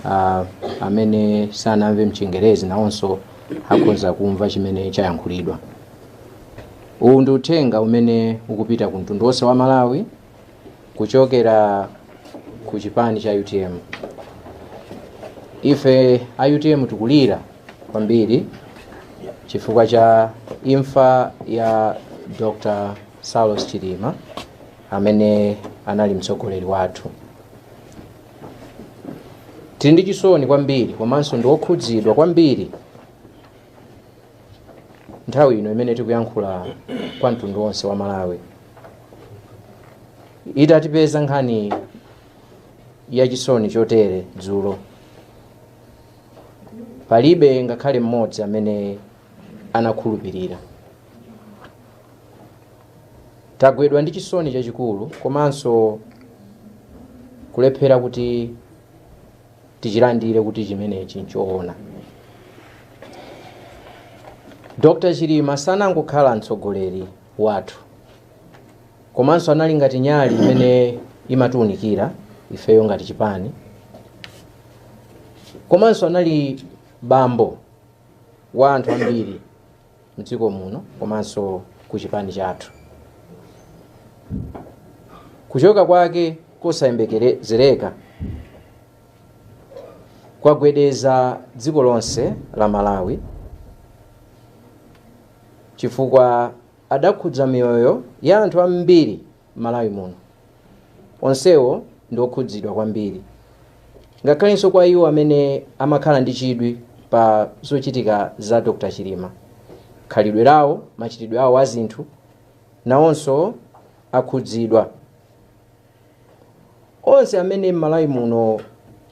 ah, amene sanamve mchingerezi nawonso akhoza kumva chimene chayankhulidwa uwu ndi uthenga umene ukupita ku mtundu wonse wa malawi kuchokera ku chipani cha utm ife a utm tikulira kwambiri chifukwa cha imfa ya dr saulos chilima amene anali mtsogoleri wathu tili ndi chisoni kwambiri komanso ndi okhudzidwa kwambiri nthawi ino imene tikuyankhula kwa mtundu wonse wa malawi itatipeza nkhani ya chisoni chotere dzulo palibe ngakhale mmodzi amene anakhulupirira tagwidwa ndi chisoni chachikulu komanso kulephera kuti tichilandire kuti chimenechi nchoona dr chilima sanangokhala mtsogoleri wathu komanso anali ngati nyali imene imatiunikira ifeyo ngati chipani komanso anali bambo wa anthu ambiri mdziko muno komanso ku chipani chathu kuchoka kwake kosayembekezereka kwagwedeza dziko lonse la malawi chifukwa adakhudza miyoyo ya anthu ambiri m'Malawi muno, onsewo ndi okhudzidwa kwambiri, ngakhalenso kwa iwo amene amakhala ndi chidwi pa zochitika za Dr Chilima. Khalidwe lawo, machitidwe awo a zinthu, nawonso akhudzidwa. Onse amene m'Malawi muno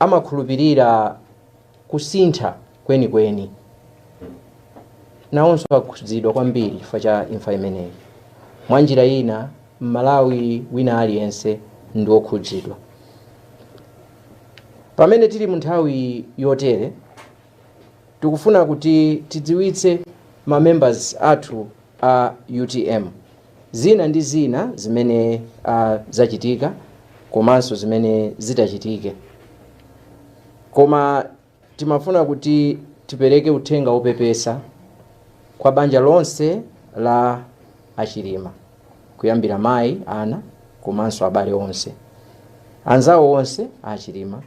amakhulupirira. kusintha kwenikweni, nawonso akhudzidwa kwambiri chifukwa cha imfa imeneyi. Mwa njira ina, Mmalawi wina aliyense ndi wokhudzidwa. Pamene tili mu nthawi yotere, tikufuna kuti tidziwitse ma members athu a utm. Zina ndi zina zimene zachitika komanso zimene zitachitike koma timafuna kuti tipereke uthenga wopepesa kwa banja lonse la a Chilima kuyambira mayi, ana komanso abale onse, anzawo onse a Chilima.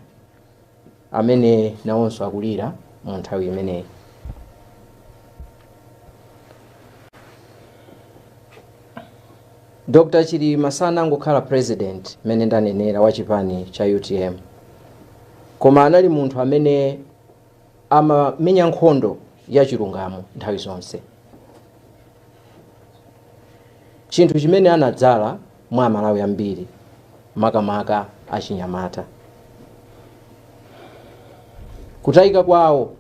amene nawonso akulira mu nthawi imeneyi. Dr. Chilima sanangokhala president mmene ndanenera wa chipani cha UTM koma anali munthu amene amamenya nkhondo ya chilungamo nthawi zonse chinthu chimene anadzala mwa Amalawi ambiri, makamaka achinyamata. Kutayika kwawo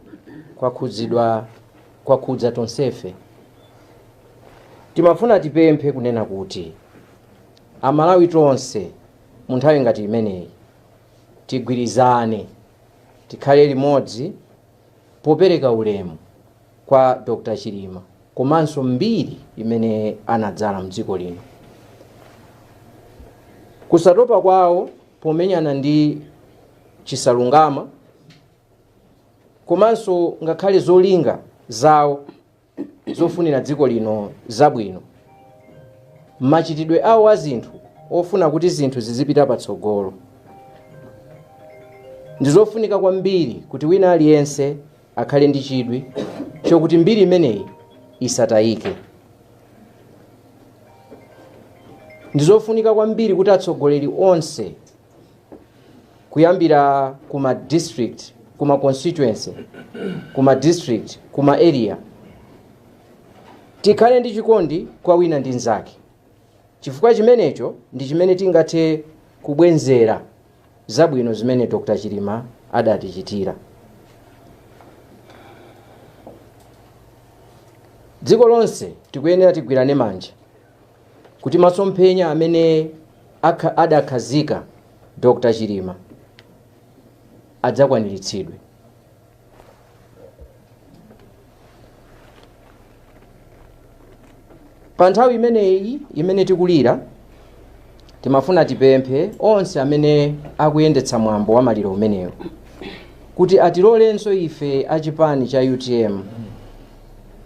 kwakhudza tonsefe. Timafuna tipemphe kunena kuti Amalawi tonse mu nthawi ngati imeneyi tigwirizane, tikhale limodzi, popereka ulemu kwa Dr Chilima komanso mbiri imene anadzala mdziko lino. Kusatopa kwawo pomenyana ndi chisalungama komanso ngakhale zolinga zawo zofunira dziko lino zabwino machitidwe awo a zinthu ofuna kuti zinthu zizipita patsogolo ndi zofunika kwambiri kuti wina aliyense akhale ndi chidwi chokuti mbiri imeneyi isatayike ndi zofunika kwambiri kuti atsogoleri onse kuyambira ku ma district ku ma constituency ku ma district ku ma area tikhale ndi chikondi kwa wina ndi nzake chifukwa chimenecho ndi chimene tingathe kubwenzera zabwino zimene dr chilima adatichitira dziko lonse tikuyenera tigwirane manja kuti masomphenya amene adakhazika Dr. Chilima adzakwaniritsidwe. Pa nthawi imeneyi imene tikulira timafuna tipemphe onse amene akuyendetsa mwambo wa maliro umenewu kuti atilolenso ife achipani cha utm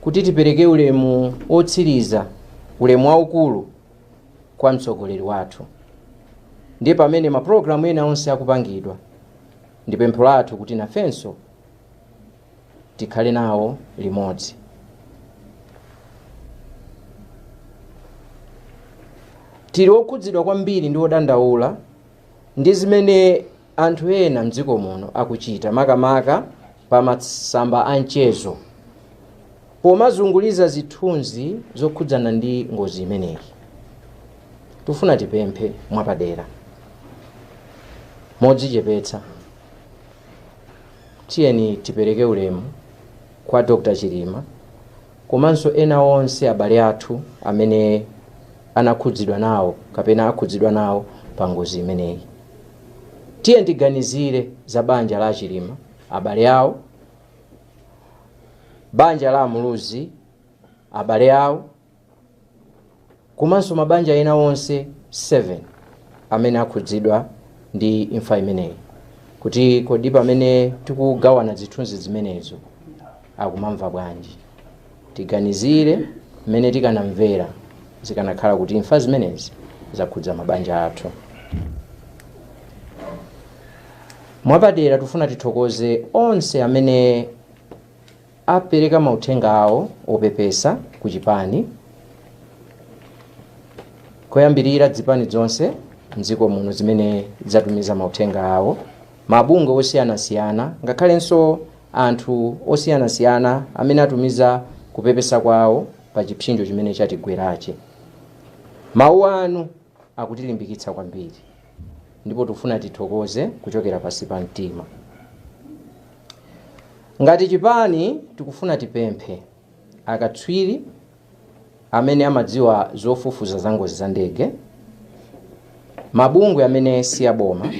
kuti tipereke ulemu wotsiriza, ulemu waukulu kwa mtsogoleri wathu. Ndiye pamene maprogramu ena onse akupangidwa, ndi pempho lathu kuti nafenso tikhale nawo limodzi. Tili okhudzidwa kwambiri ndi odandaula ndi zimene anthu ena m'dziko muno akuchita makamaka pa masamba a mchezo pomazunguliza zithunzi zokhudzana ndi ngozi imeneyi. Tufuna tipemphe mwapadera, modzichepetsa, tiyeni tipereke ulemu kwa Dr. Chilima komanso ena onse abale athu amene anakhudzidwa nawo kapena akhudzidwa nawo pa ngozi imeneyi. Tiyeni tiganizire za banja la a Chilima, abale awo, banja la a Muluzi, abale awo, komanso mabanja ena onse 7 amene akhudzidwa ndi imfa imeneyi kuti kodi pamene tikugawana zithunzi zimenezo akumamva bwanji. Tiganizire mmene tikanamvera zikanakhala kuti imfa zimenezi zakhudza mabanja athu. Mwapadera tufuna tithokoze onse amene apereka mauthenga awo opepesa ku chipani koyambirira dzipani dzonse mdziko muno zimene zatumiza mauthenga awo, mabungwe osiyanasiyana ngakhalenso anthu osiyanasiyana amene atumiza kupepesa kwawo pa chipsinjo chimene chatigwerachi. Mawu anu akutilimbikitsa kwambiri ndipo tikufuna tithokoze kuchokera pansi pa mtima. Ngati chipani tikufuna tipemphe akatswiri amene amadziwa zofufuza za ngozi za ndege, mabungwe amene si aboma,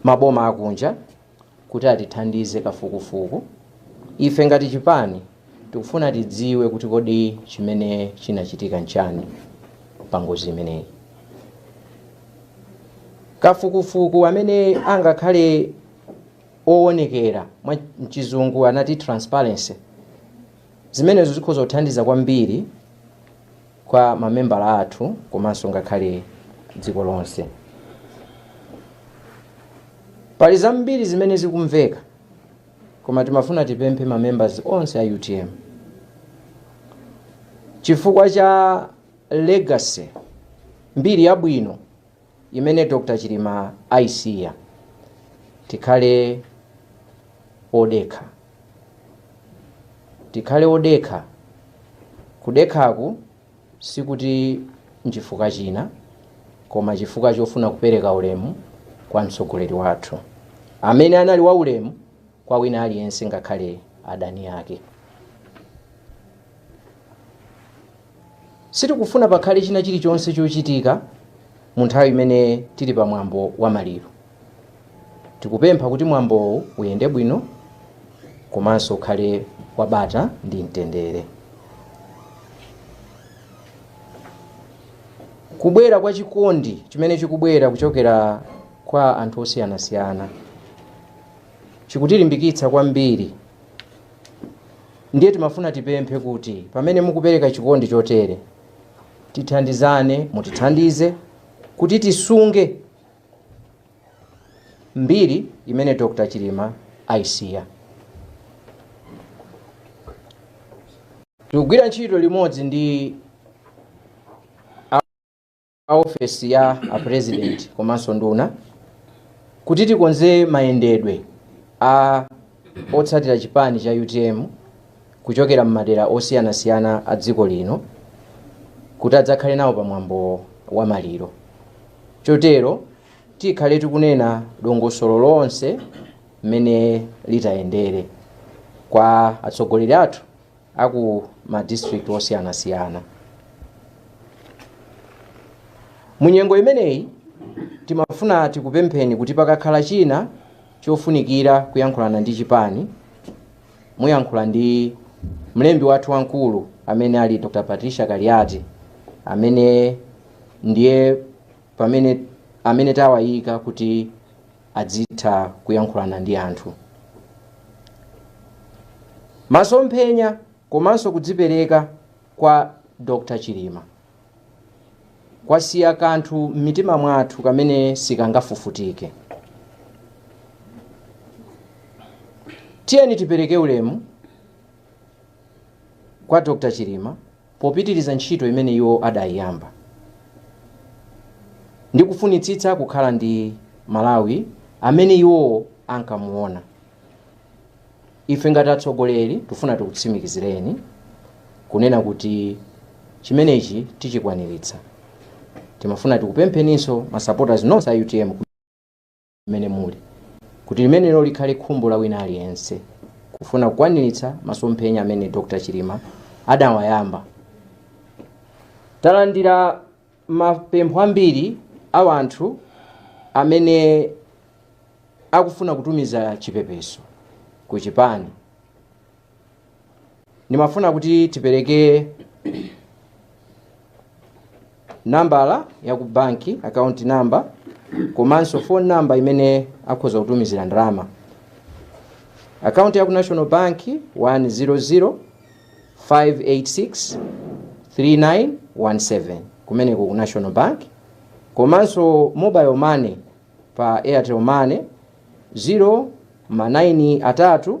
maboma akunja kuti atithandize kafukufuku. Ife ngati chipani tikufuna tidziwe kuti kodi chimene chinachitika nchani pa ngozi imeneyi. Kafukufuku amene angakhale owonekera, mwa, mchizungu anati transparency, zimenezo zikhoza kuthandiza kwambiri kwa mamembala athu komanso ngakhale dziko lonse. Pali zambiri zimene zikumveka koma timafuna tipemphe ma members onse a utm chifukwa cha legacy mbiri yabwino imene Dr Chilima ayisiya tikhale odekha tikhale odekha kudekhaku sikuti nchifukwa china koma chifukwa chofuna kupereka ulemu kwa mtsogoleri wathu amene anali waulemu kwa wina aliyense ngakhale adani ake. Sitikufuna pakhale china chilichonse chochitika mu nthawi imene tili pa mwambo wa maliro. Tikupempha kuti mwambowu uyende bwino komanso ukhale wabata ndi mtendere. Kubwera kwa chikondi chimene chikubwera kuchokera kwa anthu osiyanasiyana chikutilimbikitsa kwambiri. Ndiye timafuna tipemphe kuti pamene mukupereka chikondi chotere, tithandizane, mutithandize kuti tisunge mbiri imene Dr. Chilima ayisiya. Tikugwira ntchito limodzi ndi a ofesi ya a President komanso nduna kuti tikonze mayendedwe a otsatira chipani cha utm kuchokera m'madera osiyanasiyana a dziko lino kuti adzakhale nawo pa mwambo wa maliro chotero tikhale tikunena dongosolo lonse mmene litayendere kwa atsogoleri athu a ku ma district osiyanasiyana mu nyengo imeneyi timafuna tikupempheni kuti pakakhala china chofunikira kuyankhulana ndi chipani muyankhula ndi mlembi wathu wamkulu amene ali dr patricia kaliati amene ndiye pamene amene tawayika kuti adzitha kuyankhulana ndi anthu. Masomphenya komanso kudzipereka kwa Dr Chilima kwasiya kanthu m'mitima mwathu kamene sikangafufutike. Tiyeni tipereke ulemu kwa Dr Chilima popitiriza ntchito imene iwo adaiyamba ndi kufunitsitsa kukhala ndi Malawi amene iwo ankamuona. Ife ngati atsogoleri tifuna tikutsimikizireni kunena kuti chimenechi tichikwaniritsa. Timafuna tikupempheninso ma supporters nonse a utm. kumene muli kuti limenelo likhale khumbo la wina aliyense kufuna kukwaniritsa masomphenya amene dr chilima adawayamba talandira mapempho ambiri a wanthu amene akufuna kutumiza chipepeso ku chipani ndimafuna kuti tipereke nambala ya ku banki account number komanso phone number imene akhoza kutumizira ndalama akaunti ya ku national bank 100 586 3917 kumeneko ku national bank komanso mobile money pa airtel money 0 ma 9 atatu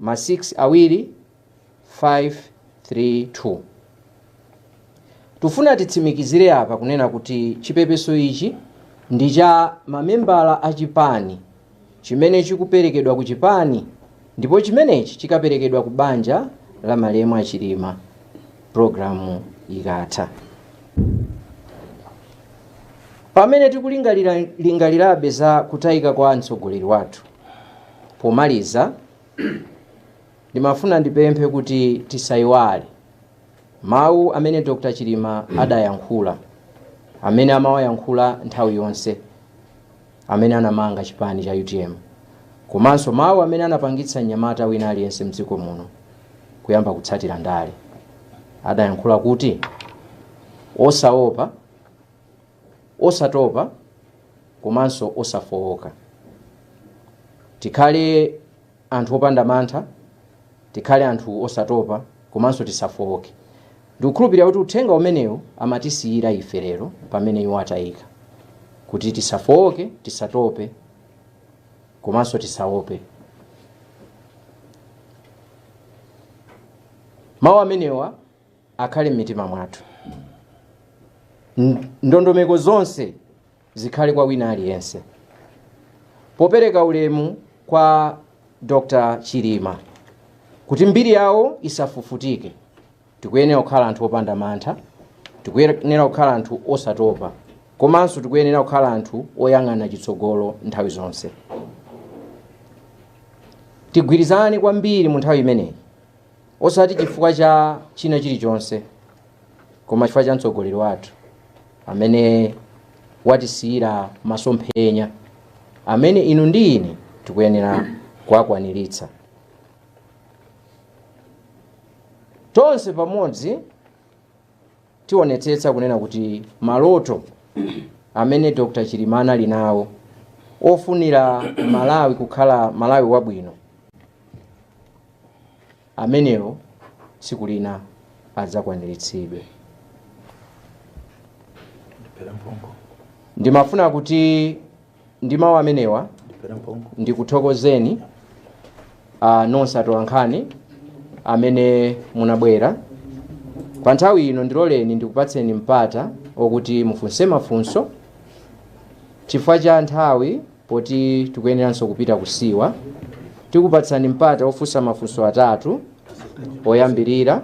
ma 6 awiri 5 3 2 tufuna titsimikizire apa kunena kuti chipepeso ichi ndi cha mamembala a chipani chimene chikuperekedwa ku chipani ndipo chimenechi chikaperekedwa ku banja la malemu achilima programu ikatha pamene tikulingaliralingalirabe za kutayika kwa mtsogoleri wathu Pomaliza, ndimafuna ndipemphe kuti tisaiwale mawu amene Dr. Chilima adayankhula, amene amawayankhula nthawi yonse, amene anamanga chipani cha utm, komanso mawu amene anapangitsa mnyamata wina aliyense mdziko muno kuyamba kutsatira ndale. Adayankhula kuti, osaopa Osatopa komanso osafooka. Tikhale anthu opanda mantha, tikhale anthu osatopa komanso tisafooke. Ndikukhulupirira kuti uthenga umenewu amatisiyira ife lero pamene iwo atayika, kuti tisafooke, tisatope komanso tisaope. Mawu amenewa akhale m'mitima mwathu. Ndondomeko zonse zikhale kwa wina aliyense. Popereka ulemu kwa Dr. Chilima kuti mbiri yawo isafufutike, tikuyenera kukhala anthu opanda mantha, tikuyenera kukhala anthu osatopa, komanso tikuyenera kukhala anthu oyang'ana chitsogolo nthawi zonse. Tigwirizane kwambiri mu nthawi imeneyi osati chifukwa cha china chilichonse koma chifukwa cha mtsogoleri wathu amene watisiyira masomphenya amene inu ndi ine tikuyenera kuwakwaniritsa tonse pamodzi tionetsetsa kunena kuti maloto amene dr chilima anali nawo ofunira malawi kukhala malawi wabwino amenewo tsiku lina adzakwaniritsidwe. Ndimafuna kuti ndi mawu amenewa ndikuthokozeni ah, nonse atolankhani amene munabwera pa nthawi ino. Ndiloleni ndikupatseni mpata okuti mufunse mafunso chifukwa cha nthawi Poti tikuyeneranso kupita kusiwa, tikupatsani mpata ofunsa mafunso atatu oyambirira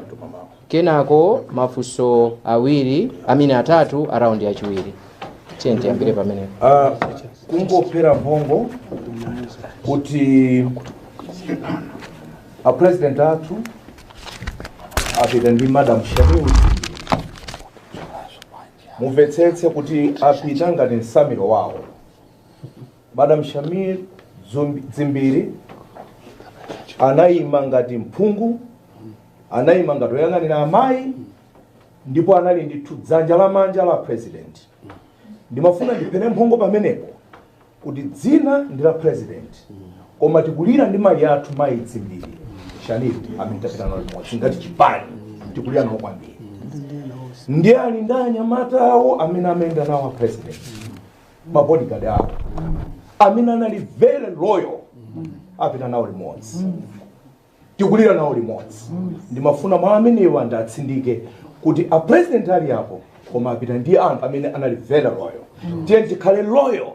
kenako mafunso awiri I mean atatu a raundi yachiwiri. Tiyeni tiyambire pamenepo. Ah, kungophera mphongo kuti a president athu apita ndi madam Shanil mumvetsetse kuti apita ngati msamiro wawo madam shanil Dzumbi- dzimbiri anayima ngati mphungu anayima ngati oyang'anira amayi ndipo anali ndithu dzanja lamanja la president ndimafuna ndiphere mphongo pamenepo kuti dzina ndi la president koma tikulira ndi mayi athu mayi dzimbiri shanil amene apita nawo limodzi ngati chipani tikulira nawo kwambiri ndiye ali ndi anyamata awo amene amayenda nawo a president mabodyguard awo amene anali very loyal apita nawo limodzi tikulira nawo limodzi ndimafuna mawu amenewa ndiwatsindike kuti a president ali apo koma apita ndi anthu amene anali very loyal tiyeni tikhale loyal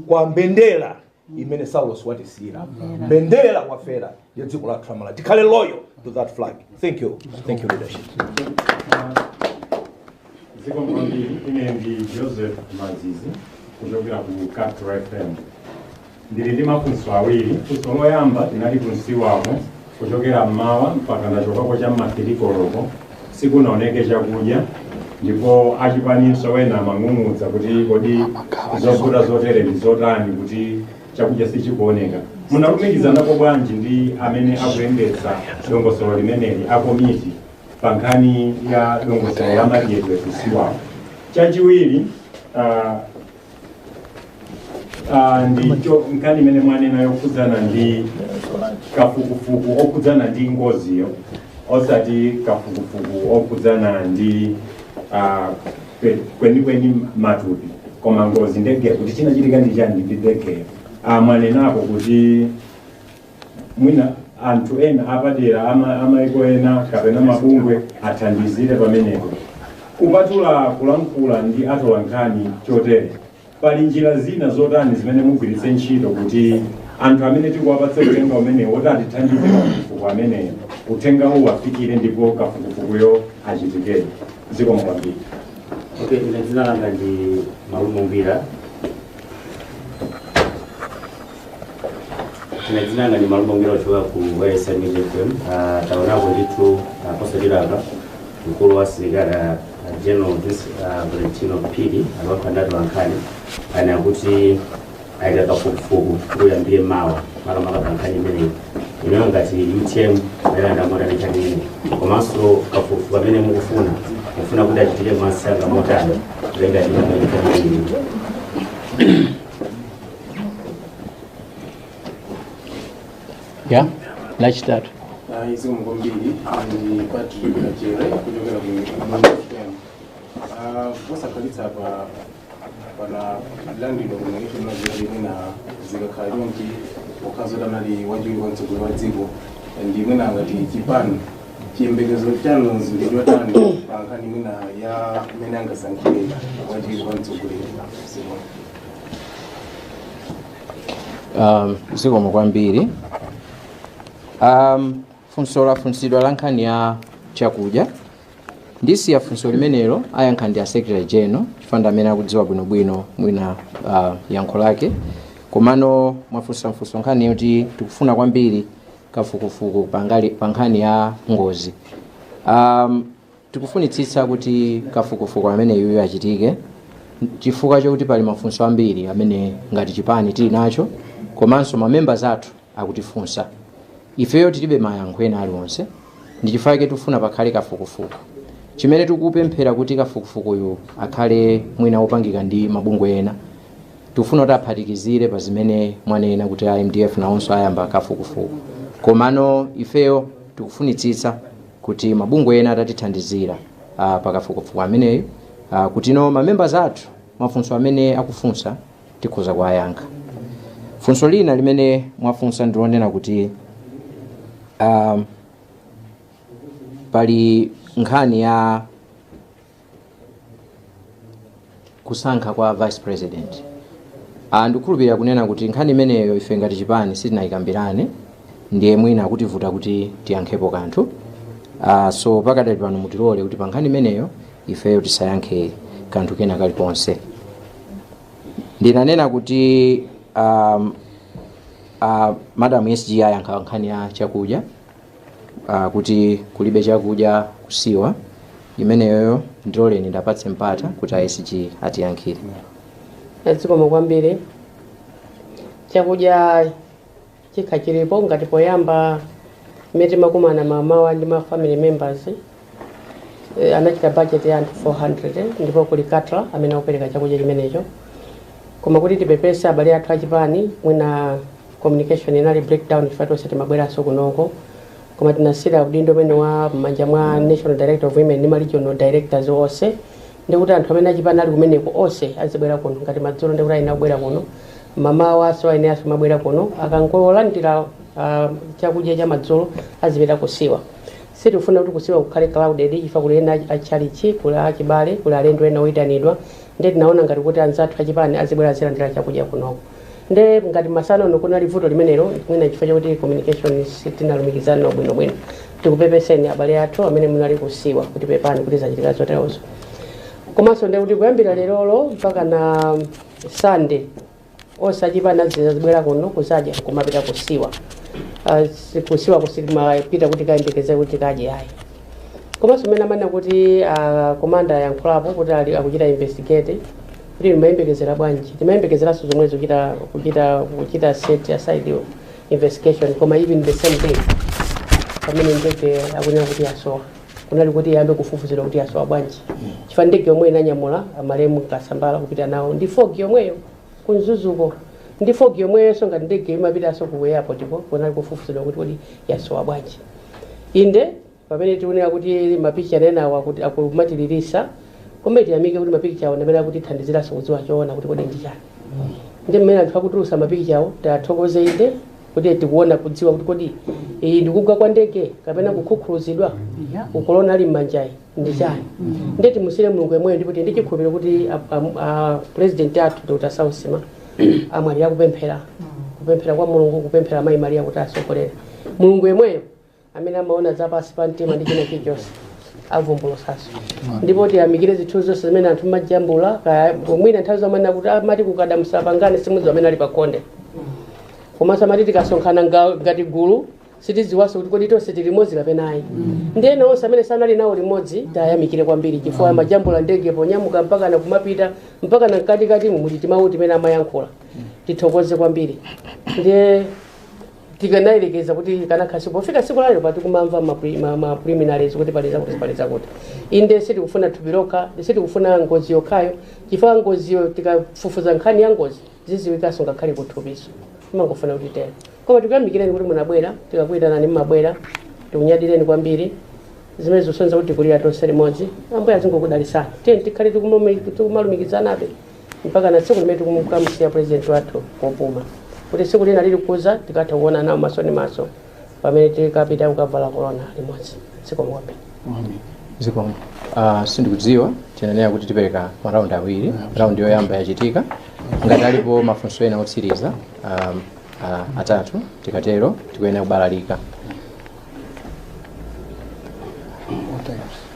kwa mbendera imene saulos watisiyira mbendera kwafera ya dziko lathu la malawi tikhale loyal to that flag thank you thank you leadership zikomo kwambiri ine ndi joseph mazizi kuchokera ku capital fm ndili ndi mafunso awiri funso loyamba tinali kusiwako Kuchokera m'mawa mpaka ndachokako cha m'ma 3 koloko sikunaoneke chakudya ndipo achipaninso ena amang'ung'udza kuti kodi zovuta zotere ndi zotani kuti chakudya sichikuoneka. Munalumikizanapo bwanji ndi amene akuyendetsa dongosolo limeneli a komiti pa nkhani ya dongosolo la madyedwe kusiwako? Chachiwiri, ah, Ah, ndicho nkhani imene mwanena yokhudzana ndi kafukufuku okhudzana ndi ngoziyo osati kafukufuku okhudzana ndi ah, kwe- kwenikweni matupi koma ngozi ndegeyo kuti chinachitika ndi chani ndi ndegeyo Ah, mwanenapo kuti mwina anthu ena apadera amaiko ena kapena mabungwe athandizire pamenepo kupatula kulankhula ndi atolankhani chotere pali njira zina zotani zimene mugwiritse ntchito kuti anthu amene tikuwapatsa uthenga umenewo woti atithandize kafukufuku ameneyo uthenga uwu afikire ndipo kafukufukuyo achitikere zikomo kwambiri Okay, ine dzina langa ndi Malume Ngwira ine dzina langa ndi malume ngwira ochoka ku YFM music fm Ah, taonako ndithu ah, posachedwa apa mkulu wa asilikali ah, ah, general Dis- ah, valentino phiri atolankhani anena kuti ayika kafukufuku kuyambire mawa makamaka pa nkhani imeneyi imeneyo ngati utm ayilandira motani nkhani imeneyi komanso kafukufuku amene mukufuna mufuna kuti achitike msanga motani malinga ndi nkhani imeneyi ya lachitatu dzina langa ndi patrick kachere kuchokera ku posakhalitsa pompano landilo kunaisho maziralini na zikakhala chonchi pokhazo tanali wachiwiri kwa mtsogoleri wa dziko ndi mwina ngati chipani chiyembekezo chanu ndi chotani pa nkhani mwina ya mmene angasankhire wachiwiri kwa mtsogoleri um, zikomo kwambiri um, funso lafunsidwa la nkhani ya chakudya ndisiye funso limenelo ayankha ndi a secretary general chifukwa ndi amene akudziwa bwinobwino mwina uh, yankho lake komano mwafunsa mfunso nkhani yoti tikufuna kwambiri kafukufuku pangali- pa nkhani ya ngozi um, Tikufunitsitsa kuti kafukufuku ameneyuyu achitike chifukwa chokuti pali mafunso ambiri amene ngati chipani tili nawo komanso ma members athu akutifunsa. Ifeyo tilibe mayankho ena aliwonse ndi chifukwa chake tikufuna pakhale kafukufuku. Chimene tikupemphela kuti kafukufukuyu akhale mwina wopangika ndi mabungwe ena, tikufuna kuti aphatikizire pa zimene mwanena kuti a mdf nawonso ayamba kafukufuku. Komano ifeyo tikufunitsitsa kuti mabungwe ena atatithandizira pa kafukufuku ameneyu kuti ma members athu mafunso amene akufunsa tikhoza kuwayankha. Funso lina limene mwafunsa ndi lonena kuti um, pali nkhani ya kusankha kwa vice president ah, ndikukhulupirira kunena kuti nkhani imeneyo ife ngati chipani sitinayikambirane ndiye mwina akutivuta kuti tiyankhepo kanthu ah, so pakadali pano mutilole kuti pa nkhani imeneyo ifeyo tisayankhe kanthu kena kalikonse ndinanena kuti um, uh, madam sg ayankha nkhani ya chakudya uh, kuti kulibe chakudya kusiwa imeneyoyo ndiloleni ndapatse mpata kuti a sg atiyankhire zikomo kwambiri chakudya chikhala chilipo ngati poyamba mmene timakumana mamawa ndi ma family members Eh, anachita budget ya anthu 400 eh, ndipo kuli caterer amene akupereka chakudya chimenecho koma kuti tipepese abale athu achipani mwina communication inali breakdown chifukwa tonse timabweranso kunoko koma tinasiira udindo umenewo m'manja mwa national director of women ndi ma regional directors onse ndikuti anthu amene achipani ali kumeneko onse azibwera kuno ngati madzulo ndikuti ayenera kubwera kuno mamawa so ayeneranso kumabwera kuno akangolandira ah, chakudya cha madzulo azipita kusiwa Sitikufuna kuti kusiwa kukhale crowded chifukwa kuli ena a tchalitchi, kuli a chibale, kuli alendo ena oitanidwa nde tinaona ngati kuti anzathu a chipani azibwera azilandira chakudya kunoko nde ngati masana uno kunali vuto limenelo mwina nchifukwa chakuti communication sitinalumikizana bwino bwino. Tikupepeseni abale athu amene munali kusiwa kuti pepani kuti zachitika zoterozo. Komanso ndekuti kuyambira lerolo mpakana Sunday, onse achipani azibwera kuno kuzadya kumapita kusiwa Ah, si- kusiwa sitimapita kuti tikayembekeze kuti tikadye ayi komanso mmene amanena kuti ah, komanda ayankhulapo kuti ali- akuchita investigate kuti timayembekezera bwanji timayembekezeranso zomwezo kuchita kuchita set aside yo investigation koma even the same day pamene ndege akunena kuti yasowa kunali koti iyambe kufufuzidwa kuti yasowa bwanji chifukwa ndege yomweyo inanyamula amalemu kasambara kupita nawo ndi fog yomweyo ku mzuzuko ndi fog yomweyonso ngati ndege imapitanso ku airport ko kunali kufufuzidwa kuti kodi yasowa bwanji inde pamene tikunena kuti mapicha enawo akuti akumatilirisa koma tiyamike kuti mapicha awo ndamene akutithandiziranso kudziwa choona kuti kodi ndi chani ndi mmene anthu akutulusa mapicha awo tathokoze inde kuti tikufuna kudziwa kuti kodi iyi ndikugwa kwa ndege kapena kukhukhuluzidwa uku kolona ali mmanja iyi ndi chani ndiye timusiyire mulungu yemweyo ndipo tili ndi chikhulupiriro kuti a- a- a- president athu dr saulos chilima amwalira akupemphera kupemphera kwa mulungu kupemphera mayi mariya kuti asogolere mulungu yemweyo amene amaona za pansi pa mtima ndi china chilichonse avumbulutsanso ndipo tiyamikire zinthu zonse zimene anthu mmajambula kaya mwina nthawi zambiri kuti amati kukada musapangane simudziwa amene ali pakhonde komanso amati tikasonkhana nga- ngati gulu sitidziwanso kuti kodi tonse tili limodzi kapena ayi ndi ena onse amene sanali nawo limodzi tiyamikire kwambiri chifukwa amajambula ndege ponyamuka mpaka na kumapita mpaka na mkatikati mumu ti timawu timene amayankhula tithokoze kwambiri ndiye tikanayerekeza kuti kanakhala pofika tsiku lalero pati kumamva ma pre- ma- ma preliminaries kuti pali zakuti pali zakuti inde sitikufuna thupi lokha sitikufuna ngozi yokhayo chifukwa ngoziyo tikafufuza nkhani ya ngozi zidziwikanso ngakhale kuthupinso timangofuna kuti tero koma tikuyamikireni kuti munabwera tikakuyitanani mmabwera tikunyadireni kwambiri zimene zosonyeza kuti tikulira tonse limodzi ambuye azingokudalitsani tiyeni tikhale tikumalumikizanabe mpaka na tsiku limene tikumukamusiya president wathu kopuma kuti tsiku lina lilikuza tikatha kuona nawo maso ndi maso pamene tikapita kukavala korona limodzi zikomo kwambiri zikomo uh, sindikudziwa tinanena kuti tipereka maraundi awiri raundi yoyamba yachitika ngati alipo mafunso ena otsiriza um, uh, atatu tikatero tikuyenera kubalalika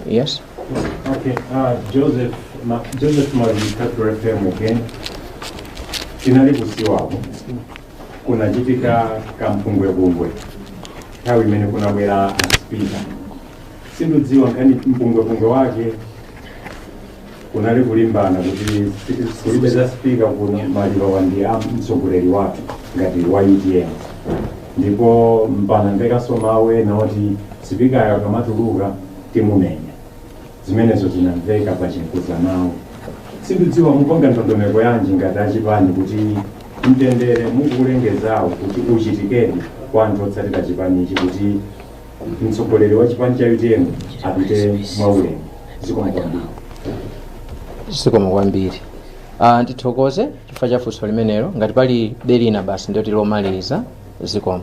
Yes? Okay, uh, Joseph, ma, Joseph Mazitatu FM again. Tinali kusiwako. Kunachitika kampungwepungwe. Nthawi imene kunabwera aspika. Sindidziwa ngati mpungwepungwe wake kunali kulimbana kuti kulibe za spika kuno malirowa ndi a mtsogoleri wathu ngati wa utm ndipo mpaka anamvekanso mawu ena oti sipikayo akamatuluka timumenya zimenezo zinamveka pa chinkuzanawo sindidziwa mupanga ndondomeko yanji ngati achipani kuti mtendere mukulengezawo kuti uchitikedi kwa anthu otsatira chipanichi kuti mtsogoleri wa chipani cha utm apite mwaulemu zikomo kwambiri zikomo kwambiri uh, ndithokoze chifukwa cha funso limenelo ngati pali be lina basi ndoti lomaliza zikomo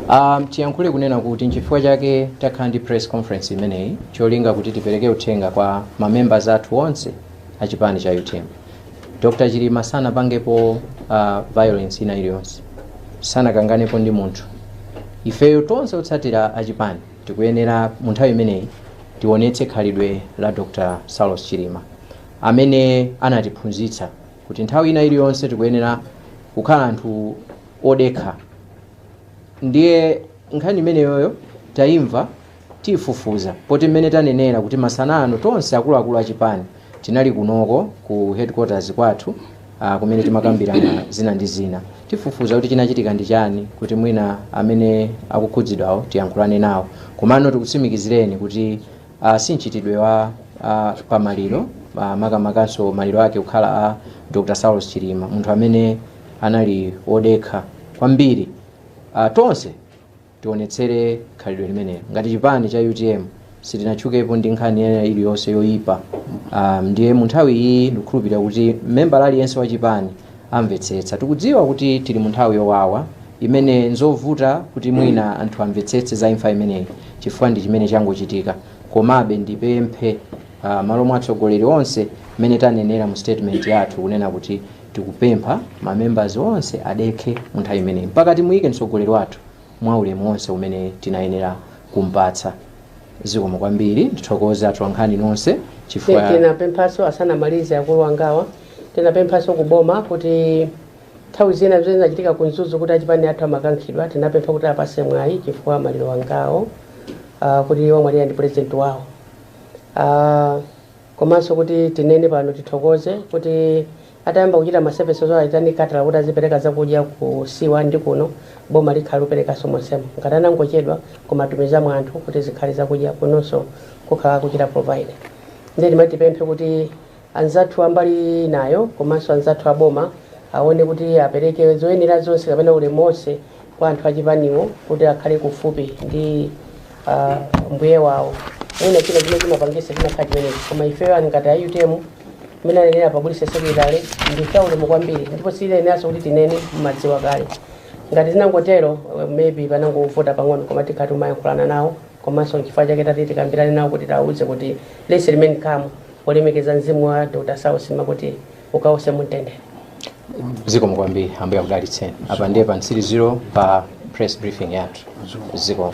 um, tiyankhule kunena kuti nchifukwa chake takhala ndi press conference imeneyi cholinga kuti tipereke uthenga kwa mamembers athu onse achipani cha utm Dr chilima sanapangepo uh, violence ina iliyonse sanakanganepo ndi munthu ifeyo tonse otsatira achipani tikuyenera mu nthawi imeneyi tionetse khalidwe la dr saulos chilima amene anatiphunzitsa kuti nthawi ina iliyonse tikuyenera kukhala anthu odekha ndiye nkhani imeneyoyo tayimva Tifufuza poti mmene tanenera kuti masanano tonse akuluakulu a chipani tinali kunoko ku headquarters kwathu ah, kumene timakambirana zina ndi zina. Tifufuza kuti chinachitika ndi chani kuti mwina amene akukhudzidwawo tiyankhulane nawo. Komano tikutsimikizireni kuti ah, si mchitidwe wa, ah, pamaliro ah, makamakanso maliro ake kukhala a Dr. Saulos Chilima munthu amene anali wodekha kwambiri ah, tonse tionetsere khalidwe limeneli ngati chipani cha utm sitinatchukepo ndi nkhani ina iliyonse yoyipa um, ndiye mu nthawi iyi ndikukhulupirira kuti membala aliyense wa chipani amvetsetsa tikudziwa kuti tili mu nthawi yowawa imene nzovuta kuti mwina anthu amvetsetse za imfa imeneyi chifukwa ndi chimene changochitika komabe ndipemphe uh, m'malo mwa atsogoleri onse mmene tanenera mu statement yathu kunena kuti Tikupempha ma members onse adekhe mu nthawi imeneyi mpaka timuyike mtsogoleri wathu mwa ulemu onse umene tinayenera kumpatsa. Zikomo kwambiri. Ndithokoze atolankhani nonse chifukwa. Tinapemphaso asanamalize akulu angawa tinapemphaso ku boma kuti nthawi zina zimene zinachitika ku Mzuzu kuti achipani athu amakankhidwa tinapempha kuti apase mwayi chifukwa maliro ngawo ah, kuti wamwalira ndi president wawo ah, Komanso kuti tinene pano tithokoze kuti atayamba kuchita ma services wo ayitane Catholic kuti azipereka zakudya ku C1 ndi kuno, boma likhala likuperekaso monsemo. Ngati anangochedwa koma atumizamo anthu kuti zikhale zakudya kunonso kukhala akuchita provide. Ndiye timati tipemphe kuti anzathu a mbali inayo komanso anzathu a boma aone kuti apereke zoyenera zonse kapena ulemu onse kwa anthu achipaniwo kuti akhale kufupi ndi ah, mbuye wawo mwina china chimene chimapangisa chimakhala chimenechi koma ifeyo ngati a utm mmene anenera a publicity secretary ndife aulemu kwambiri ndipo sizoneneranso kuti tinene mumadziwa kale ngati zinangotero eh, maybe panangovuta pang'ono koma tikhala tikuyankhulana nawo komanso nchifukwa chake tati tikambirane nawo kuti tiwauze kuti let's remain calm polemekeza mzimu wa dr saulos chilima kuti ukawuse mumtendere zikomo kwambiri ambuye akudalitseni apa ndiye pa mtsiriziro pa press briefing yathu zikomo